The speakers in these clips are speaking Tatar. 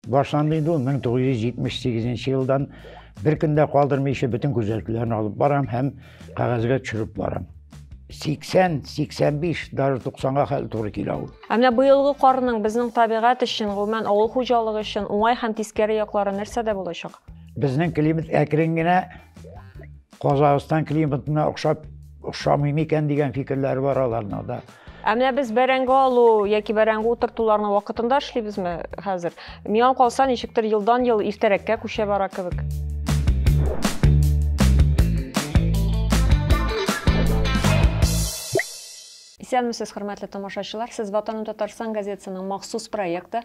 Башланды инде ул 1978 нче елдан. Бер көн дә калдырмыйча бөтен күзәтүләрне алып барам һәм кәгазьгә төшереп барам. 80, 85, даже 90-га хәл туры килә ул. Ә менә быелгы карның безнең табигать өчен, гомумән авыл хуҗалыгы өчен уңай һәм тискәре яклары нәрсәдә булачак? Безнең климат әкрен генә Казахстан климатына охшап охшамый микән дигән фикерләре бар аларның да. Ә менә без бәрәңге алу яки бәрәңге утыртуларны вакытында эшлибезме хәзер? Миңа калса, ничектер елдан-ел иртәрәккә күчә бара кебек. Исәнмесез, хөрмәтле тамашачылар. Сез Ватаным Татарстан газетасының махсус проекты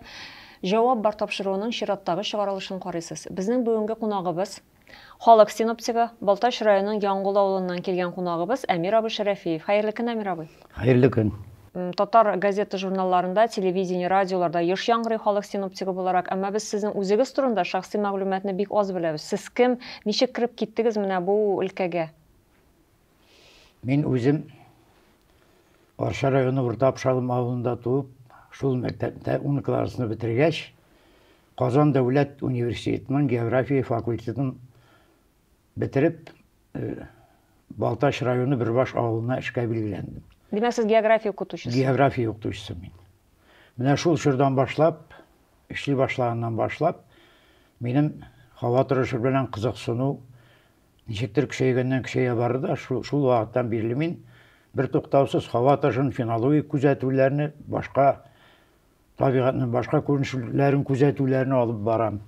Җавап бар тапшыруының чираттагы чыгарылышын карыйсыз. Безнең бүгенге кунагыбыз Халык синоптигы, Балтач районының Яңгул авылыннан килгән кунагыбыз Әмир абый Шәрәфиев. Хәерле көн, Әмир абый! Хәерле көн! Татар газета-журналларында, телевидение, радиоларда еш яңгырый халык синоптигы буларак, әмма без сезнең үзегез турында шәхси мәгълүматны бик аз беләбез. Сез кем, ничек кереп киттегез менә бу өлкәгә? Мин үзем Арча районы Урта Апшалым авылында туып, шул мәктәптә 10 классны бетергәч, Казан дәүләт университетының география факультетын бетереп, э, Балтач районы Бөрбаш авылына эшкә билгеләндем. Димәк, сез география укытучысы. География укытучысы мин. Менә шул чордан башлап, эшли башлаганнан башлап, минем һава торышы белән кызыксыну Ничектер көчәйгәннән көчәя барды да, шу, шул вакыттан бирле мин бертуктаусыз һава ташын, фенологик күзәтүләрне, башка табигатьнең башка күренешләрен күзәтүләрне алып барам.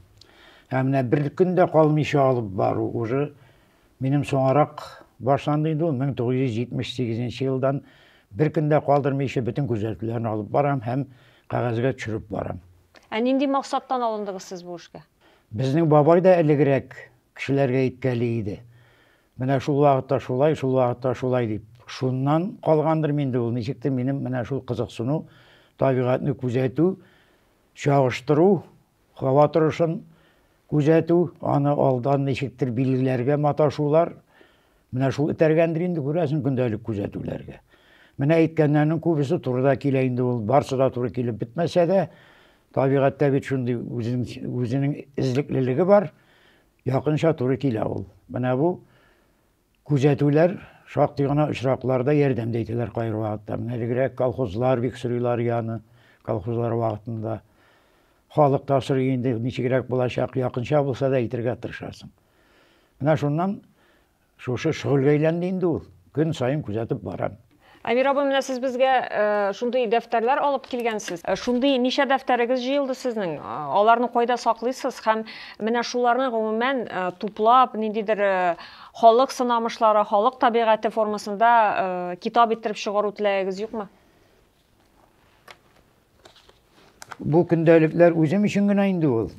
Һәм менә бер көн дә калмыйча алып бару уже минем соңарак башланды инде ул 1978 елдан бер көн дә калдырмыйча бөтен күзәтүләрне алып барам һәм кәгазьгә төшереп барам. Ә нинди максаттан алындыгыз сез бу эшкә? Безнең бабай да элегрәк Кешеләргә иткәли иде. Менә шул вакытта шулай, шул вакытта шулай дип. Шуннан калгандырмы инде ул, ничектер минем менә шул кызыксыну, табигатьне күзәтү, чагыштыру, һава торышын күзәтү, аны алдан ничектер билгеләргә маташулар, Менә шул этәргәндер инде, күрәсең, көндәлек күзәтүләргә. Менә әйткәннәрнең күбесе туры да килә инде ул, барсы да туры килеп бетмәсә дә, табигатьтә бит шундый үзенең эзлеклелеге бар, якынча туры килә ул. Менә бу күзәтүләр шактый гына очракларда ярдәм дә итәләр кайбер вакытта. Менә элегрәк колхозлар бик сорыйлар яны, колхозлар вакытында. Халык та сорый инде, ничегрәк булачак, якынча булса да әйтергә тырышасың. Менә шуннан шушы шөгыльгә әйләнде инде ул. Көн саен күзәтеп барам. Әмир абый, менә сез безгә шундый дәфтәрләр алып килгәнсез. Шундый ничә дәфтәрегез җыелды сезнең? Аларны кайда саклыйсыз һәм менә шуларны гомумән туплап, ниндидер халык сынамышлары, халык табигате формасында китап иттереп чыгару теләгегез юкмы? Бу көндәлекләр үзем өчен генә инде ул.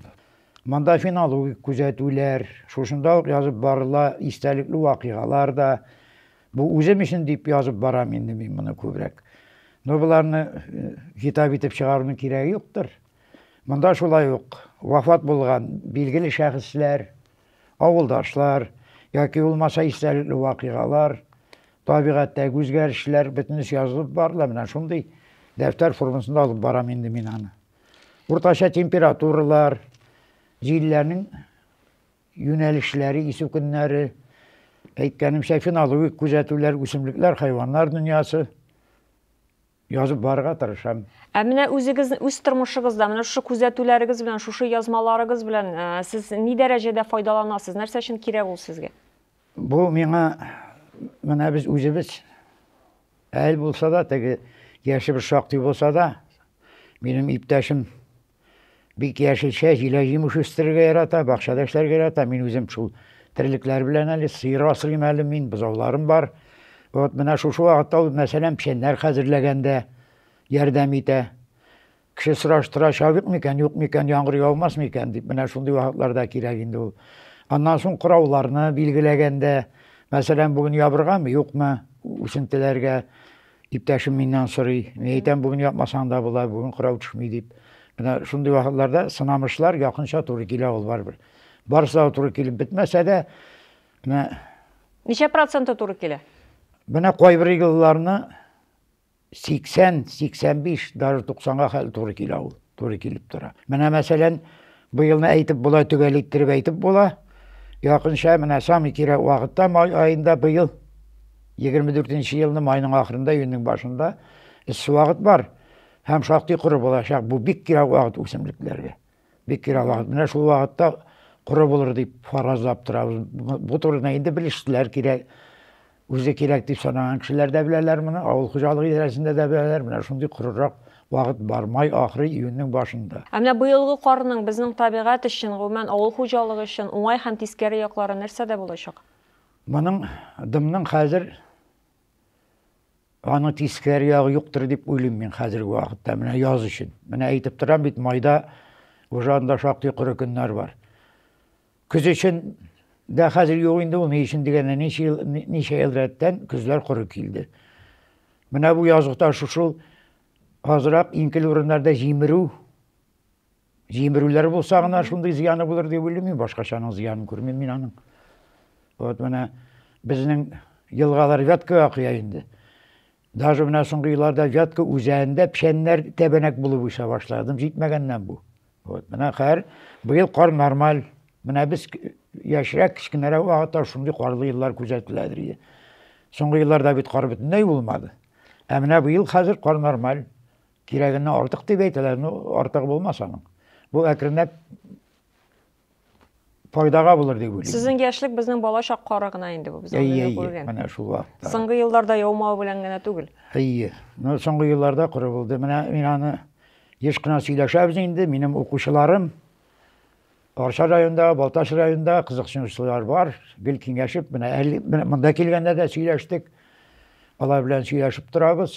Монда фенологик күзәтүләр, шушында ук язып барыла, истәлекле вакыйгалар да. Бу үзем өчен дип язып барам инде мин моны күбрәк. Но боларны э, китап итеп чыгаруның кирәге юктыр. Монда шулай ук вафат булган билгеле шәхесләр, авылдашлар яки булмаса истәлекле вакыйгалар, Табигатьтәге үзгәрешләр бөтенесе язылып бар да, менә шундый дәфтәр формасында алып барам инде мин аны. Уртача температуралар, җилләрнең юнәлешләре, исү көннәре, әйткәнемчә, фенологик күзәтүләр, үсемлекләр, хайваннар дөньясы язып барырга тырышам. Ә менә үзегез үз тормышыгызда менә шушы күзәтүләрегез белән, шушы язмаларыгыз белән сез ни дәрәҗәдә файдаланасыз? Нәрсә өчен кирәк ул сезгә? Бу миңа менә без үзебез әл булса да, теге яше бер шактый булса да, минем иптәшем бик яшелчә, җилә җимеш үстерергә ярата, бакчада эшләргә ярата. Мин үзем шул терлекләр белән әле сыер асрыйм әле мин, бозауларым бар. Вот менә шушы вакытта ул мәсәлән печәннәр хәзерләгәндә ярдәм итә. Кеше сораштыра, чабыйк микән, юк микән, яңгыр яумас микән дип, менә шундый вакытларда кирәк инде ул. Аннан соң корауларны билгеләгәндә, мәсәлән, бүген ябыргамы, юкмы, үсентеләргә иптәшем миннән сорый. Мин әйтәм, бүген япмасаң да була, бүген кырау төшми дип. Менә шундый вакытларда сынамышлар якынча туры килә ул барыбер. Барысы да туры килеп бетмәсә дә, менә Ничә проценты туры килә? Менә кайбер елларны 80, 85, даже 90-га хәл туры килә ул, туры килеп тора. Менә мәсәлән, бу елны әйтеп була, төгәл иттереп әйтеп була. Якынча менә самый кирәк вакытта май аенда быел 24-нче елны майның ахырында, июньнең башында эссе вакыт бар һәм шактый коры булачак. Бу бик кирәк вакыт үсемлекләргә. Бик кирәк вакыт. Менә шул вакытта коры булыр дип фаразлап торабыз. Бу турыда инде белешлеләр кирәк. Үзе кирәк дип санаган кешеләр дә беләләр моны, авыл хуҗалыгы идарәсендә дә беләләр. Менә шундый корырак вакыт бар, май ахыры, июньнең башында. Ә менә быелгы карның безнең табигать өчен, гомумән, авыл хуҗалыгы өчен уңай һәм тискәре яклары нәрсәдә булачак? Моның, дымның хәзер Аны тискәре ягы юктыр дип уйлыйм мин хәзерге вакытта, менә яз өчен. Менә әйтеп торам бит, майда уже анда шактый коры көннәр бар. Көз өчен дә хәзер юк инде ул, ни өчен дигәндә, ничә ел, ничә ел рәттән көзләр коры килде. Менә бу языкта шушыл азрак инкел урыннарда җимерү Җимерүләр булса гына шундый зыяны булыр дип уйлыйм мин, башкачаның зыянын күрмим мин аның. Вот менә безнең елгалар Вяткага коя инде. Даже менә соңгы елларда Вятка үзәгендә печәннәр тәбәнәк булып үсә башладым, җитмәгәннән бу. Вот менә хәзер быел кар нормаль. Менә без яшьрәк кечкенәрәк вакытта шундый карлы еллар күзәтеләдер иде. Соңгы елларда бит кар бөтенләй булмады. Ә менә быел хәзер кар нормаль. Кирәгеннән артык дип әйтәләр, ну, артыгы булмас аның. Бу әкренләп файдага булыр дип уйлыйм. Сезнең яшьлек безнең бала чак кары гына инде бу, без аны Әйе, әйе, күргән. менә шул вакытта. Соңгы елларда яумау белән генә түгел. Әйе. Ну, соңгы елларда коры булды. Менә мин аны еш кына сөйләшәбез инде, минем укучыларым Арча районында, Балтач районында кызыксынучылар бар. Гел киңәшеп, менә әле менә монда килгәндә дә сөйләштек. Алар белән сөйләшеп торабыз.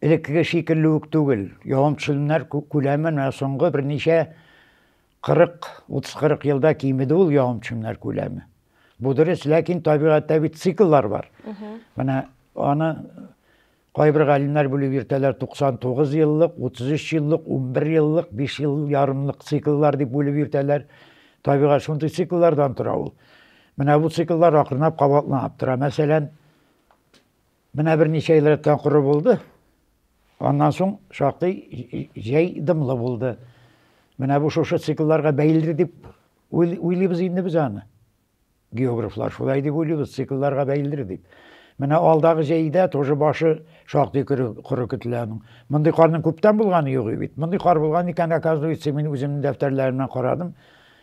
Элеккеге шикелле үк түгел. Явым-төшемнәр күләме менә соңгы берничә 40, 30-40 елда кимеде ул явым-төшемнәр күләме. Бу дөрес, ләкин табигатьтә бит цикллар бар. Менә аны кайбер галимнәр бүлеп йөртәләр 99 еллык, 33 еллык, 11 еллык, 5 ел ярымлык цикллар дип бүлеп йөртәләр. Табигать шундый цикллардан тора ул. Менә бу цикллар акрынлап кабатланып тора. Мәсәлән, Менә берничә ел рәттән коры булды. Аннан соң шактый җәй дымлы булды. Менә бу шушы циклларга бәйледер дип уйлыйбыз инде без аны. Географлар шулай дип уйлыйбыз, циклларга бәйледер дип. Менә алдагы җәйдә тоже башы шактый коры көтелә аның. Мондый карның күптән булганы юк бит. Мондый кар булган икән, оказывается, мин үземнең дәфтәрләремнән карадым.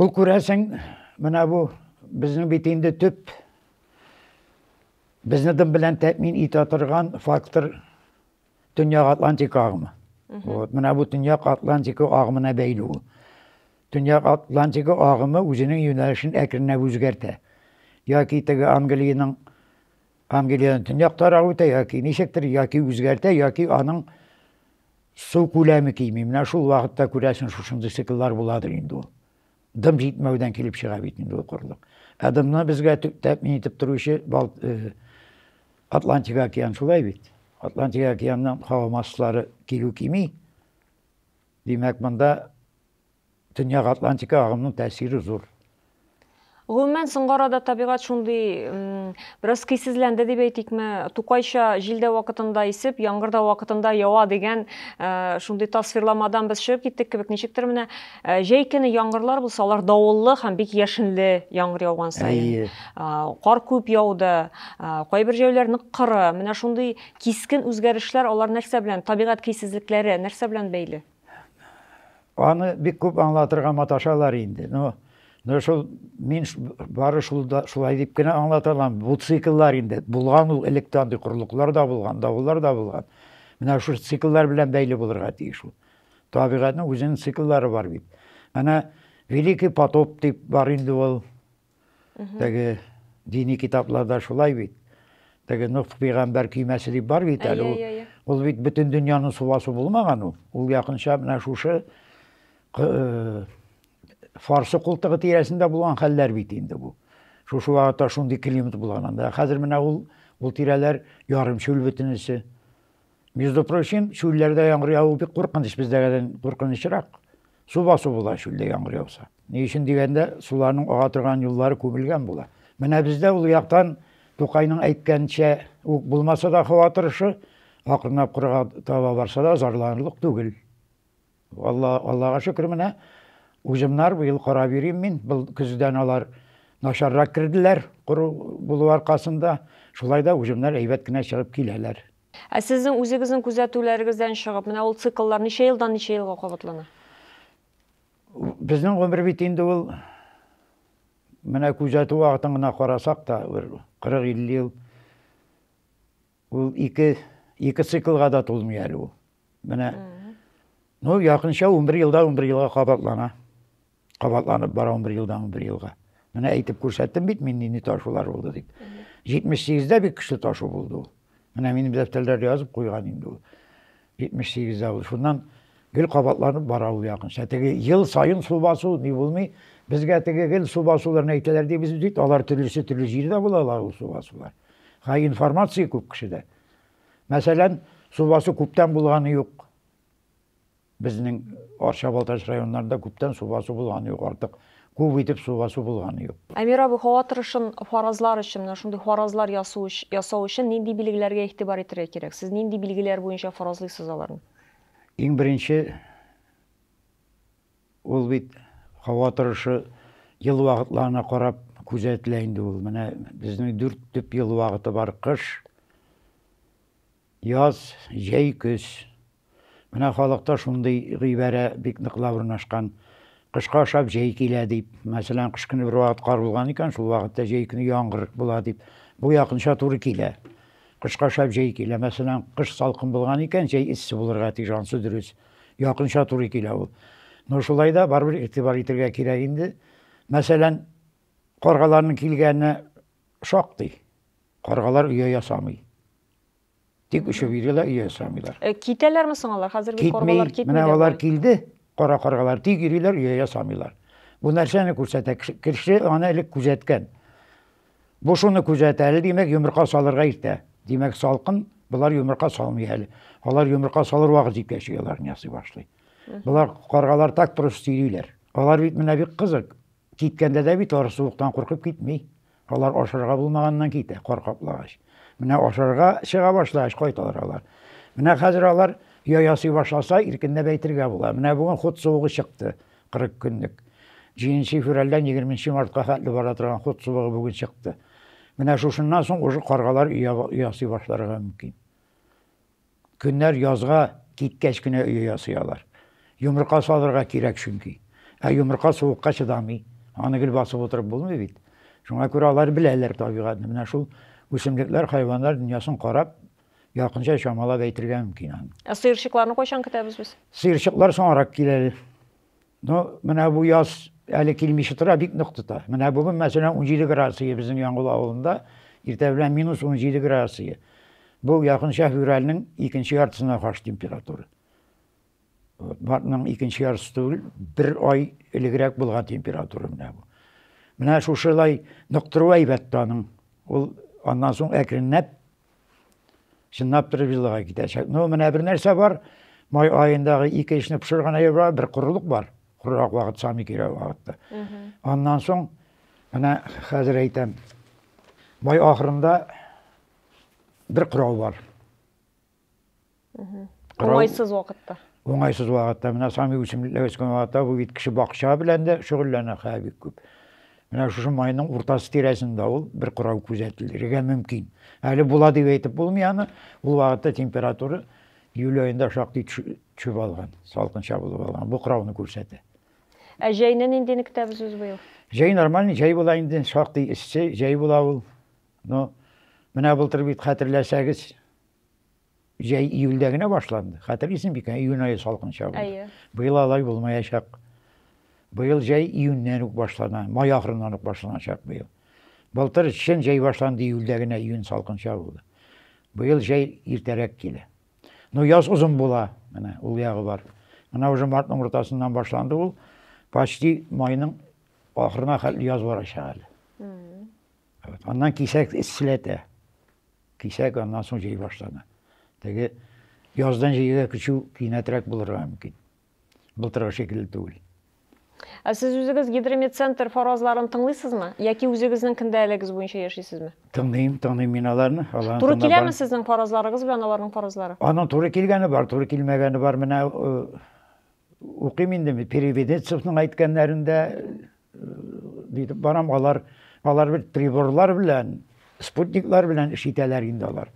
Ул күрәсең, менә бу безнең бит инде төп безне дым белән тәэмин итә торган фактор Төньяк Атлантика агымы. Вот, менә бу Төньяк Атлантика агымына бәйле ул. Төньяк Атлантика агымы үзенең юнәлешен әкренләп үзгәртә. Яки теге Англиянең Англиянең төньяк тарагы үтә яки ничектер, яки үзгәртә, яки аның су күләме кими. Менә шул вакытта күрәсен шушындый цикллар буладыр инде ул. Дым җитмәүдән килеп чыга бит инде ул корылык. Ә дымны безгә тәэмин итеп торучы бал, э, Атлантик океан шулай бит. Атлантик океанның һава массалары килү кими. Димәк, монда Төньяк Атлантика агымының тәэсире зур. Гомумән, соңгы арада табигать шундый бераз көйсезләнде дип әйтикме, тукайча җил дә вакытында исеп, яңгыр да вакытында ява дигән э, шундый тасвирламадан без чыгып киттек кебек. Ничектер менә э, җәй көне яңгырлар булса, алар давыллы һәм бик яшенле яңгыр яуган саен. Кар күп яуды, кайбер җәйләр нык коры. Менә шундый кискен үзгәрешләр алар нәрсә белән, табигать көйсезлекләре нәрсә белән бәйле? Аны бик күп аңлатырга маташалар инде. Но, но шул мин бары шул да шулай дип кенә аңлата алам. Бу цикллар инде булган ул электә андый курлыклар да булган, давыллар да булган. Менә шул цикллар белән бәйле булырга тиеш ул. Табигатьнең үзенең цикллары бар бит. Әнә Великий потоп дип бар инде ул. Теге дини китапларда шулай бит. Теге Нух пигамбәр көймәсе дип бар бит әле. Ул бит бөтен дөньяны субасу булмаган ул. Ул якынча менә шушы э, фарсы култыгы тирәсендә булган хәлләр бит инде бу. Шушы вакытта шундый климат булган анда. Хәзер менә ул ул тирәләр ярымчүл бөтенесе. Между прочим, чүлләрдә яңгыр яву бик куркыныч, бездәгедән куркынычрак. Су басу була чүлдә яңгыр яуса. Ни өчен дигәндә, суларның ага торган юллары күмелгән була. Менә бездә ул яктан Тукайның әйткәнчә үк булмаса да хава торышы, акрынлап кырга таба барса да зарланырлык түгел. Алла, Аллага шөкер, менә узымнар быел карап йөрим мин. Бу көздән алар начаррак керделәр, коры булу аркасында. Шулай да узымнар әйбәт кенә чыгып киләләр. Ә сезнең үзегезнең күзәтүләрегездән чыгып, менә ул цикллар ничә елдан ничә елга кабатлана? Безнең гомер бит инде ул, менә күзәтү вакытын гына карасак та, бер 40-50 ел. Ул ике, ике циклга да тулмый әле ул. Менә, ну, якынча 11 елда 11 елга кабатлана. Кабатланып бара 11 елдан 11 елга. Менә әйтеп күрсәттем бит мин нинди ташулар булды дип. 78-дә бик көчле ташу булды ул. Менә минем дәфтәрләрдә язып куйган инде ул. 78 авыл. Шуннан гел кабатланып бара ул якынча. Теге ел саен су басу ни булмый. Безгә теге гел су басуларын әйтәләр дибез бит. Алар төрлесе төрле җирдә булалар ул су басулар. Ха информация күп кешедә. Мәсәлән, су басу күптән булганы юк. Безнең Арча Балтач районнарында күптән су басу булганы юк артык. Күп итеп су басу булганы юк. Әмир абый, һава торышын фаразлар өчен, менә шундый фаразлар ясу ясау өчен нинди билгеләргә игътибар итәргә кирәк? Сез нинди билгеләр буенча фаразлыйсыз аларны? Иң беренче, ул бит һава торышы ел вакытларына карап күзәтелә инде ул. Менә безнең дүрт төп ел вакыты бар, кыш, яз, җәй, көз. Менә халыкта шундый гыйбарә бик ныклап урнашкан. Кышка ошап җәй килә дип. Мәсәлән, кыш көне бервакыт кар булган икән, шул вакытта җәй көне яңгыр була дип. Бу якынча туры килә. Кышка ошап җәй килә. Мәсәлән, кыш салкын булган икән, җәй эссе булырга тиеш, ансы дөрес. Якынча туры килә ул. Но шулай да барыбер игътибар итергә кирәк инде. Мәсәлән, каргаларның килгәне шактый. Каргалар оя ясамый. Тик очып йөриләр, өй ясамыйлар. Э, китәләрме соң алар? Хәзер бит каргалар китми. Менә алар килде, кара каргалар, тик йөриләр, өй ясамыйлар. Бу нәрсәне күрсәтә? Кеше аны элек күзәткән. Бу шуны күзәтә, әле димәк, йомырка салырга иртә. Димәк, салкын, булар йомырка салмый әле. Алар йомырка салыр вакыт җиткәч ояларын ясый башлый. Булар каргалар так торыш сөйлиләр. Алар бит менә бик кызык. Киткәндә дә бит алар суыктан куркып китми. Алар ашарга булмаганнан китә, кар каплагач. Менә ашарга чыга башлагач кайталар алар. Менә хәзер алар оя ясый башласа, иркенләп әйтергә була. Менә бүген хут суыгы чыкты, 40 көнлек. Җиденче февральдән егерменче мартка хәтле бара торган хут суыгы бүген чыкты. Менә шушыннан соң уже каргалар оя ясый башларга мөмкин. Көннәр язга киткәч кенә өе ясый алар. Йомырка салырга кирәк чөнки. Ә йомырка суыкка чыдамый. Аны гел басып утырып булмый бит. Шуңа күрә алар беләләр табигатьне. Менә шул үсемлекләр, хайваннар дөньясын карап, якынча чамалап әйтергә мөмкин аны. Ә сыерчыкларны кайчан көтәбез без? Сыерчыклар соңарак килә әле. Ну, менә бу яз әле килмичә тора, бик нык тота. Менә бүген, мәсәлән, 17 градус иде безнең Яңгул авылында, иртә белән минус 17 градус иде. Бу якынча февральнең икенче яртысына каршы температура. Вот, мартның икенче яртысы түгел, бер ай элегрәк булган температура менә бу. Менә шушылай ныктыру әйбәт таның. Ул аннан соң әкренләп Чынлап торып виллага китәчәк. Ну, менә бер нәрсә бар. Май аендагы ике эшне пешергән әйбер бар, бер корылык бар. Корырак вакыт, самый кирәк вакытта. Аннан соң менә хәзер әйтәм. Май ахырында бер корал бар. Уңайсыз вакытта. Уңайсыз вакытта. Менә самый үсемлекләр үскән вакытта бу бит кеше бакча белән дә шөгыльләнә хәзер бик күп. Менә шушы майның уртасы тирәсендә ул бер курау күзәтелергә мөмкин. Әле була дип әйтеп булмый аны. Ул вакытта температура июль аенда шактый төшеп алган, салкынча булып алган. Бу курауны күрсәтә. Ә җәйне нинди көтәбез үз быел? Җәй нормальный, җәй була инде, шактый эссе, җәй була ул. Но менә былтыр бит хәтерләсәгез, Җәй июльдә генә башланды. Хәтерлисең бик, июнь ае салкын чагы. Әйе. Быел алай булмаячак. Быел җәй июньнән үк башлана, май ахырыннан ук башланачак быел. Былтыр чын җәй башланды июльдә генә, июнь салкын чагы булды. Быел җәй иртәрәк килә. Ну, яз озын була, менә ул ягы бар. Менә уже мартның уртасыннан башланды ул, почти майның ахырына хәтле яз барачак әле. Аннан кисәк эсселәтә. Кисәк аннан соң җәй башлана. Теге яздан җәйгә күчү кинәтрәк булырга мөмкин. Былтыргы шикелле түгел. Ә сез үзегез Гидромедцентр фаразларын тыңлыйсызмы? Яки үзегезнең кендәлегез буенча яшисезме? Тыңлыйм, тыңлыйм мин аларны. Аларны Туры тыңлап киләме сезнең фаразларыгыз белән аларның фаразлары? Аның туры килгәне бар, туры килмәгәне бар. Менә э, укыйм инде мин Переведенцевның әйткәннәрен дә, Дип барам, алар алар бит приборлар белән, спутниклар белән эш итәләр инде алар.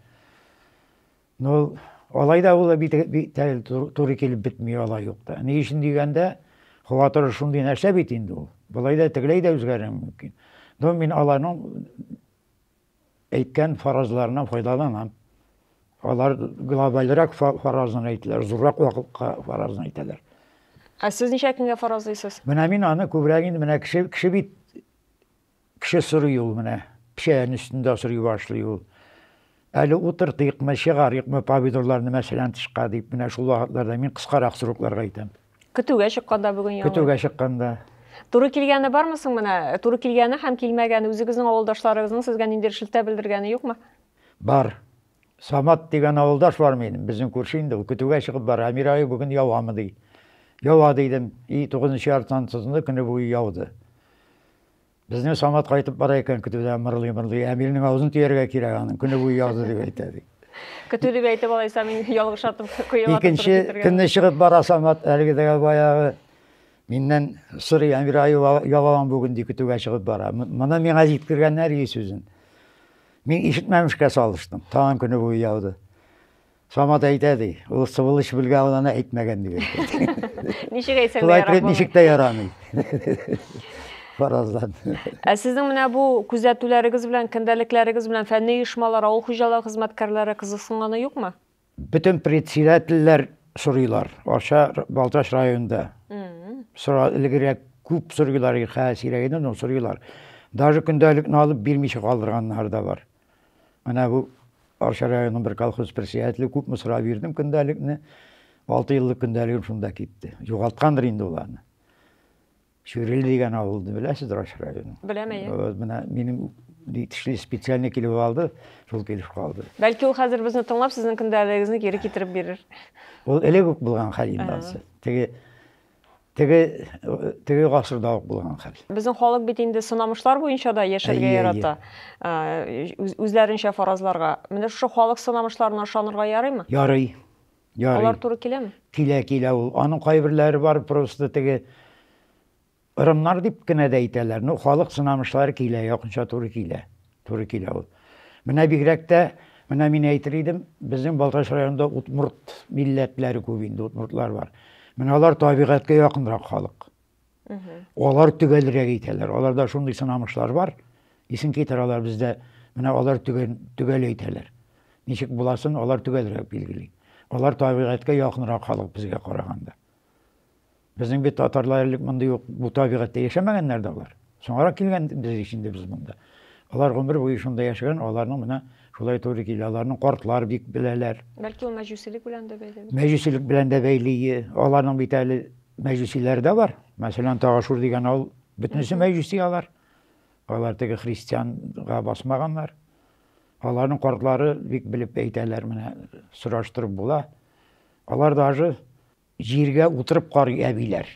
Ну, алай да ул бит тәл туры килеп бетми алай юк та. Ни өчен дигәндә, һава торышы шундый нәрсә бит инде ул. Болай да тегеләй дә үзгәрә мөмкин. Но мин аларның әйткән фаразларына файдаланам. Алар глобальрак фаразын әйтәләр, зуррак вакытка фаразын әйтәләр. Ә сез ничә көнгә фаразлыйсыз? Менә мин аны күбрәк инде менә кеше кеше бит кеше сорый ул менә. Печән өстендә сорый башлый ул. Әле утыртыйкмы, чыгарыйкмы помидорларны мәсәлән тышка дип, менә шул вакытларда мин кыскарак срокларга әйтәм. Көтүгә чыкканда бүген яңгыр. Көтүгә чыкканда. Туры килгәне бармы соң менә? Туры килгәне һәм килмәгәне, үзегезнең авылдашларыгызның сезгә ниндидер шелтә белдергәне юкмы? Бар. Самат дигән авылдаш бар минем, безнең күрше инде ул. Көтүгә чыгып бара, Әмир ае бүген явамы ди. Ява дидем. И, тугызынчы яртыдан тотынды, көне буе яуды. Безнең Самат кайтып бара икән, көтүдә мырлый-мырлый, Әмирнең авызын төяргә кирәк аның, көне буе язды дип әйтә, ди. Көтү дип әйтеп алайса, мин ялгыш атып куеп Икенче көнне чыгып бара Самат, әлеге дә баягы миннән сорый, Әмир аю ялаван бүген ди, көтүгә чыгып бара. Моны миңа җиткергәннәр ди сүзен. Мин ишетмәмешкә салыштым, тагын көне буе яуды. Самат әйтә ди, ул сыбылыч белгә ул аны әйтмәгән дип әйтә. Ничек әйтсәң дә ярамый. Ничек тә ярамый. Фаразлан. Ә сезнең менә бу күзәтүләрегез белән, көндәлекләрегез белән фәнни оешмалар, авыл хуҗалыгы хезмәткәрләре кызыксынганы юкмы? Бөтен председательләр сорыйлар. Аша Балтач районында. Сора элегрәк күп сорыйлар, хәзер сирәгәйде, но сорыйлар. Даже көндәлекне алып бирмичә калдырганнар да бар. Менә бу Арча районының бер колхоз председателе күпме сорап йөрдем көндәлекне. Алты еллык көндәлегем шунда китте. Югалткандыр инде ул аны. Чүриле дигән авылны беләсез Арча районы? Беләм, әйе. Вот менә минем тишле специально килеп алды, шул килеш калды. Бәлки ул хәзер безне тыңлап, сезнең көндәлегегезне кире китереп бирер. Ул элек үк булган хәл инде ансы. Теге Теге теге гасырда ук булган хәл. Безнең халык бит инде сынамышлар буенча да яшәргә ярата. Үзләренчә фаразларга. Менә шушы халык сынамышларына ышанырга ярыймы? Ярый. Ярый. Алар туры киләме? Килә, килә ул. Аның кайберләре бар просто теге ырымнар дип кенә дә әйтәләр. Ну, халык сынамышлары килә, якынча туры килә. Туры килә ул. Менә бигрәк тә, менә мин әйтер идем, безнең Балтач районында удмурт милләтләре күп инде, удмуртлар бар. Менә алар табигатькә якынрак халык. Алар төгәлрәк әйтәләр. Аларда шундый сынамышлар бар. Исен китер алар бездә, менә алар төгәл, төгәл әйтәләр. Ничек буласын алар төгәлрәк билгели. Алар табигатькә якынрак халык безгә караганда. Безнең бит татарлар элек мондый ук бу табигатьтә яшәмәгәннәр дә алар. Соңарак килгән без ич инде без монда. Алар гомер буе шунда яшәгән, аларның менә шулай туры килә. Аларның картлар бик беләләр. Бәлки ул мәҗүсилек белән дә бәйле. Мәҗүсилек белән дә бәйле. Аларның бит әле мәҗүсиләре дә бар. Мәсәлән, Тагашур дигән авыл бөтенесе мәҗүси алар. Алар теге христианга басмаганнар. Аларның картлары бик белеп әйтәләр, менә сораштырып була. Алар даже җиргә утырып карый әбиләр.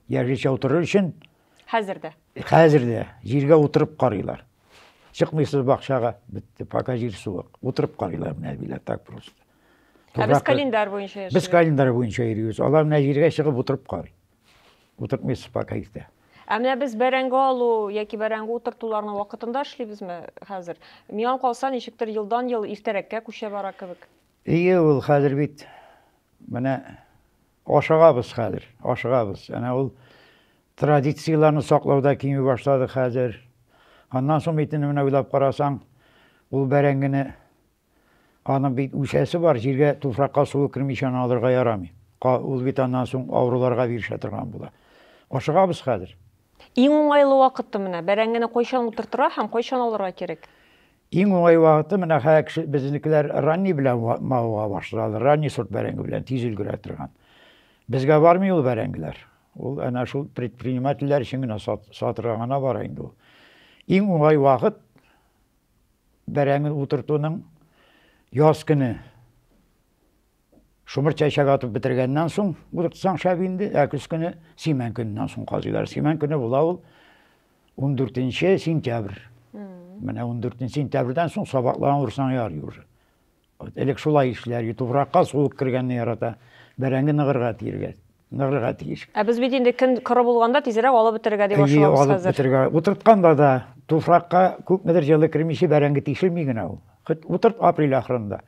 Яшелчә утырыр өчен хәзер дә. Хәзер дә җиргә утырып карыйлар. Чыкмыйсыз бакчага, бетте, пока җир суык. Утырып карыйлар менә әбиләр так просто. Ә без календарь буенча яшибез. Без календарь буенча йөрибез. Алар менә җиргә чыгып утырып карый. Утыртмыйсыз пока иртә. Ә менә без бәрәңге алу яки бәрәңге утыртуларны вакытында эшлибезме хәзер? Миңа калса, ничектер елдан-ел иртәрәккә күчә бара кебек. Ие ул хәзер бит менә ашыгабыз хәзер, ашыгабыз. Әнә ул традицияләрне саклау да кими башлады хәзер. Аннан соң бит инде менә уйлап карасаң, ул бәрәңгене аның бит үсәсе бар, җиргә, туфракка суы кермичә аны алырга ярамый. Ул бит аннан соң авыруларга бирешә торган була. Ашыгабыз хәзер. Иң уңайлы вакыты менә бәрәңгене кайчан утыртырга һәм кайчан алырга кирәк? Иң уңай вакыты менә хәзер кеше безнекеләр ранний белән мавыга башладылар. Ранний сорт бәрәңге белән тиз өлгерә торган. Безгә бармый ул бәрәңгеләр. Ул әнә шул предпринимательләр өчен генә сат, сатырга гына бара инде ул. Иң уңай вакыт бәрәңге утыртуның яз көне Шомырт чәчәк атып бетергәннән соң утыртсаң шәп инде, ә көз көне симән көненнән соң казыйлар. Симән көне була ул 14 сентябрь. Менә 14 сентябрьдән соң сабакларны урсаң ярый уже. Вот элек шулай эшләр, туфракка суык кергәнне ярата, бәрәңге ныгырга тиергә ныгырга тиеш. Ә без бит инде көн коры булганда тизрәк алып бетергә дип ашыгабыз хәзер. Алып бетергә. Утыртканда да туфракка күпмедер җылы кермичә бәрәңге тишелми генә ул. Утырт апрель ахырында.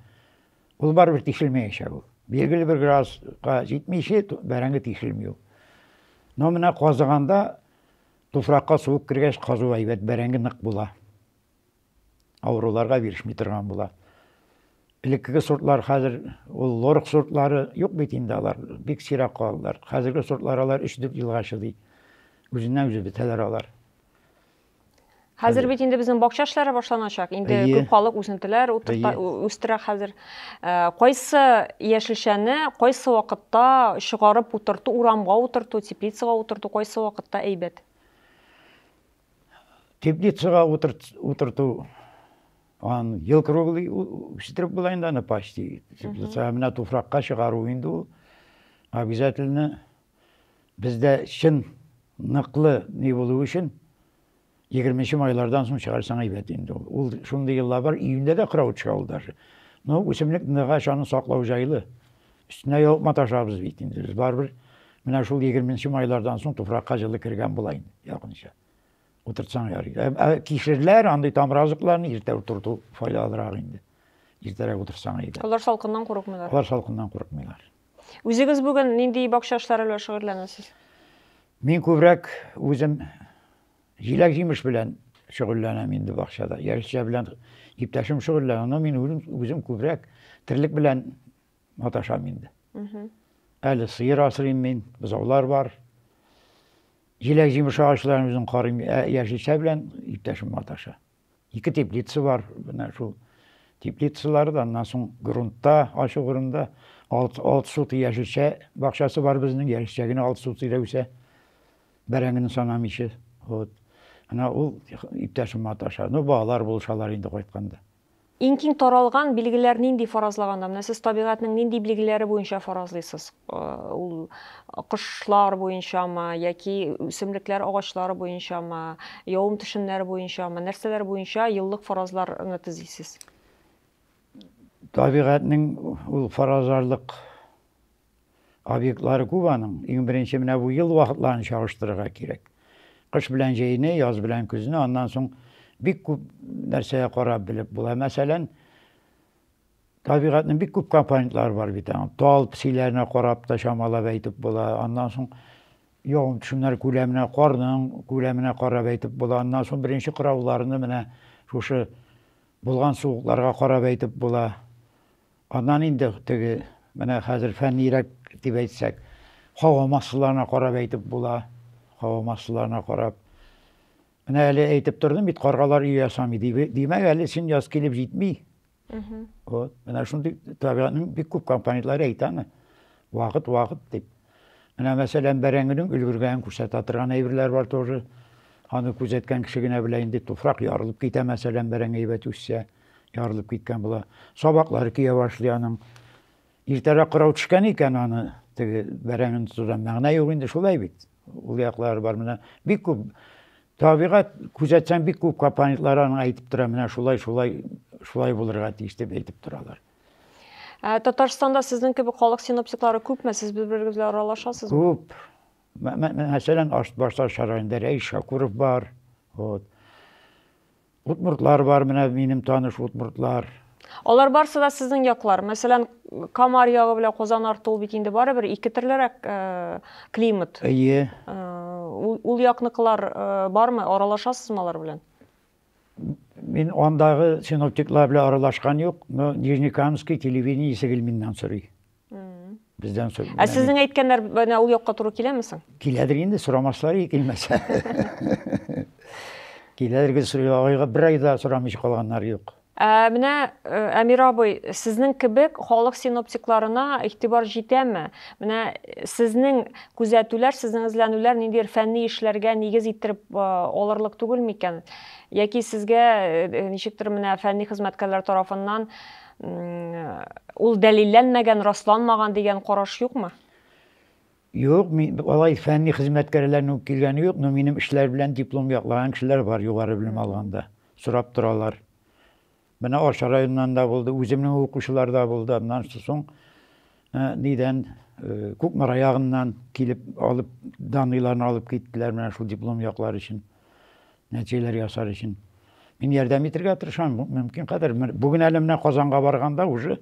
Ул барыбер тишелмәячәк ул. Билгеле бер градуска җитмичә бәрәңге тишелми ул. Но менә казыганда туфракка суык кергәч казу әйбәт, бәрәңге нык була. Авыруларга бирешми торган була. Элеккеге сортлар хәзер ул лорк сортлары юк бит инде алар, бик сирәк калдылар. Хәзерге сортлар алар 3-4 елга чыдый. Үзеннән үзе бетәләр алар. Хәзер бит инде безнең бакча эшләре башланачак. Инде Әйе. күп халык үсентеләр утырта- Әйе. ү- үстерә хәзер. Ә, Кайсы яшелчәне кайсы вакытта чыгарып утырту, урамга утырту, теплицага утырту кайсы вакытта әйбәт? Теплицага утырт, утырту аны ел круглый у- үстереп була инде аны почти. Теплица менә туфракка чыгару инде ул обязательно Бездә чын ныклы ни булу өчен егерменче майлардан соң чыгарсаң әйбәт инде ул. Ул шундый еллар бар, июньдә дә кыравыт төшә ул даже. Но үсемлек ныгач, аны саклау җайлы. Өстенә ябып маташабыз бит инде без. Барыбер менә шул егерменче майлардан соң туфракка җылы кергән була инде, якынча. Утыртсаң ярый. Ә, ә кишерләр, андый тамыр азыкларны иртә утырту файдалырак инде. Иртәрәк утырсаң әйбәт. Алар салкыннан курыкмыйлар. Алар салкыннан курыкмыйлар. Үзегез бүген нинди бакча эшләре белән шөгыльләнәсез? Мин күбрәк үзем җиләк-җимеш белән шөгыльләнәм инде бакчада. Яшелчә белән иптәшем шөгыльләнә, но мин үзем, үзем күбрәк терлек белән маташам инде. Әле сыер асрыйм мин, бозаулар бар. Җиләк-җимеш агачларын үзем карыйм, ә яшелчә белән иптәшем маташа. Ике теплица бар, менә шул теплицалар да, аннан соң грунтта, ачык грунтта алты, алты сутый яшелчә бакчасы бар безнең, яшелчә генә алты сутыйда үсә, бәрәңгене санамыйча. Вот. Ана ул иптәшем маташа. Ну, балалар булышалар инде кайтканда. Иң киң таралган билгеләр нинди фаразлаганда? Менә сез табигатьнең нинди билгеләре буенча фаразлыйсыз? Ул кошлар буенчамы яки үсемлекләр, агачлар буенчамы, явым-төшемнәр буенчамы, нәрсәләр буенча еллык фаразларны төзисез? Табигатьнең ул фаразларлык Объектлары күп аның. Иң беренче менә бу ел вакытларын чагыштырырга кирәк. Кыш белән җәйне, яз белән көзне, аннан соң бик күп нәрсәгә карап белеп була. Мәсәлән, табигатьнең бик күп компонентлары бар бит аның. Тал псиләренә карап та чамалап әйтеп була. Аннан соң явым төшемнәр күләменә, карның күләменә карап әйтеп була. Аннан соң беренче кырауларны менә шушы булган суыкларга карап әйтеп була. Аннан инде теге, менә хәзер фәннирәк дип әйтсәк, һава массаларына карап әйтеп була. Һава массаларына карап. Менә әле әйтеп тордым бит, каргалар өй ясамый дип. Димәк, әле сын яз килеп җитми. Вот. Менә шундый табигатьнең бик күп компонентлары әйтә аны. Вакыт, вакыт дип. Менә мәсәлән, бәрәңгенең өлгергәнен күрсәтә торган әйберләр бар тоже. Аны күзәткән кеше генә белә инде, туфрак ярылып китә, мәсәлән, бәрәңге әйбәт үссә. Ярылып киткән була. Сабаклары көя башлый аның. Иртәрәк кырау төшкән икән аны теге бәрәңгене тотудан мәгънә юк инде шулай бит. Ул яклары бар менә бик күп табигать күзәтсәң бик күп компонентлар аның әйтеп тора менә шулай шулай шулай булырга тиеш дип әйтеп торалар. Ә Татарстанда сезнең кебек халык синоптиклары күпме? Сез бер-берегез белән аралашасызмы? Күп. Мәсәлән, Аштбашташ районында Рәис Шакуров бар. Вот. Удмуртлар бар, менә минем таныш удмуртлар. Алар барсы да сезнең яклар. Мәсәлән, Камар ягы белән Казан арты ул бит инде барыбер ике төрлерәк э, климат. Әйе. Э, ул, ул якныкылар э, бармы? Аралашасызмы алар белән? Мин андагы синоптиклар белән аралашкан юк, но Нижнекамский телевидение Исегелминнан сорый. Бездән соң. Ә сезнең әйткәннәр менә ул якка туры киләме соң? Киләдер инде, сорамаслар и килмәсә. Киләдер гел сорыйга бер айда сорамыйча калганнар юк. Ә менә Әмир абый, сезнең кебек халык синоптикларына игътибар җитәме? Менә сезнең күзәтүләр, сезнең эзләнүләр ниндидер фәнни эшләргә нигез иттереп алырлык түгелме икән? Яки сезгә ничектер менә фәнни хезмәткәрләр тарафыннан Ул дәлилләнмәгән, расланмаган дигән караш юкмы? Юк, мин алай фәнни хезмәткәрләрнең үк килгәне юк, но минем эшләр белән диплом яклаган кешеләр бар, югары белем алганда. Сорап торалар. Менә Арча районыннан да булды, үземнең укучылар да булды. Аннан соң Ә нидән, Кукмара ягыннан килеп алып, даныйларны алып киттеләр менә шул диплом яклар өчен, нәтиҗәләр ясар өчен. Мин ярдәм итергә тырышам, мөмкин кадәр. Бүген әле менә Казанга барганда уже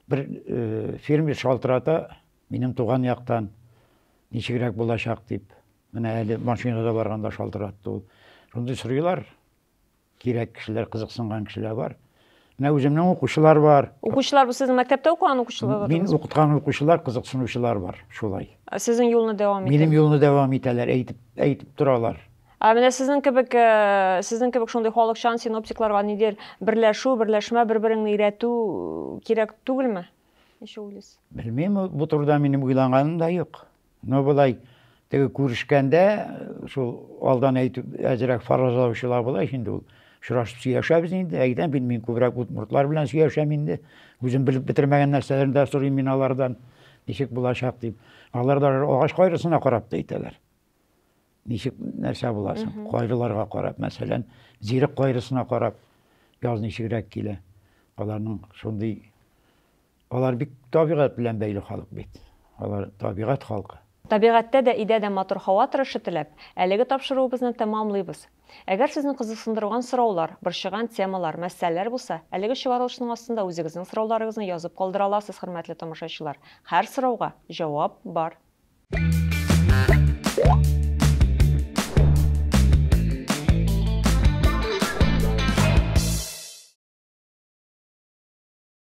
бер фермер шалтырата, минем туган яктан ничегрәк булачак дип. Менә әле машинада барганда шалтыратты ул. Шундый сорыйлар. Кирәк кешеләр, кызыксынган кешеләр бар. Менә үземнең укучылар бар. Укучылар бу сезнең мәктәптә укыган укучылар? Мин укыткан укучылар, кызыксынучылар бар, шулай. Сезнең юлны дәвам итә. Минем юлны дәвам итәләр, әйтеп, әйтеп торалар. Ә менә сезнең кебек, э, сезнең кебек шундый халыкчан синоптикларга нидер берләшү, берләшмә, бер-береңне өйрәтү э, кирәк түгелме? Ничек уйлыйсыз? Белмим, бу турыда минем уйланганым да юк. Ну болай теге күрешкәндә шул алдан әйтеп әзерәк фаразлаучылар була ич инде ул очрашып сөйләшәбез инде әйдә мин мин күбрәк удмуртлар белән сөйләшәм инде үзем белеп бетермәгән нәрсәләрне дә сорыйм мин алардан ничек булачак дип алар да агач кайрысына карап та әйтәләр ничек нәрсә була соң кайрыларга карап мәсәлән зирек кайрысына карап яз ничегрәк килә аларның шундый Алар бик табигать белән бәйле халык бит. Алар табигать халкы. Табигатьтә дә, өйдә дә матур һава торышы теләп, әлеге тапшыруыбызны тәмамлыйбыз. Әгәр сезне кызыксындырган сораулар, борчыган темалар, мәсьәләләр булса, әлеге чыгарылышның астында үзегезнең сорауларыгызны язып калдыра аласыз, хөрмәтле тамашачылар. Һәр сорауга җавап бар.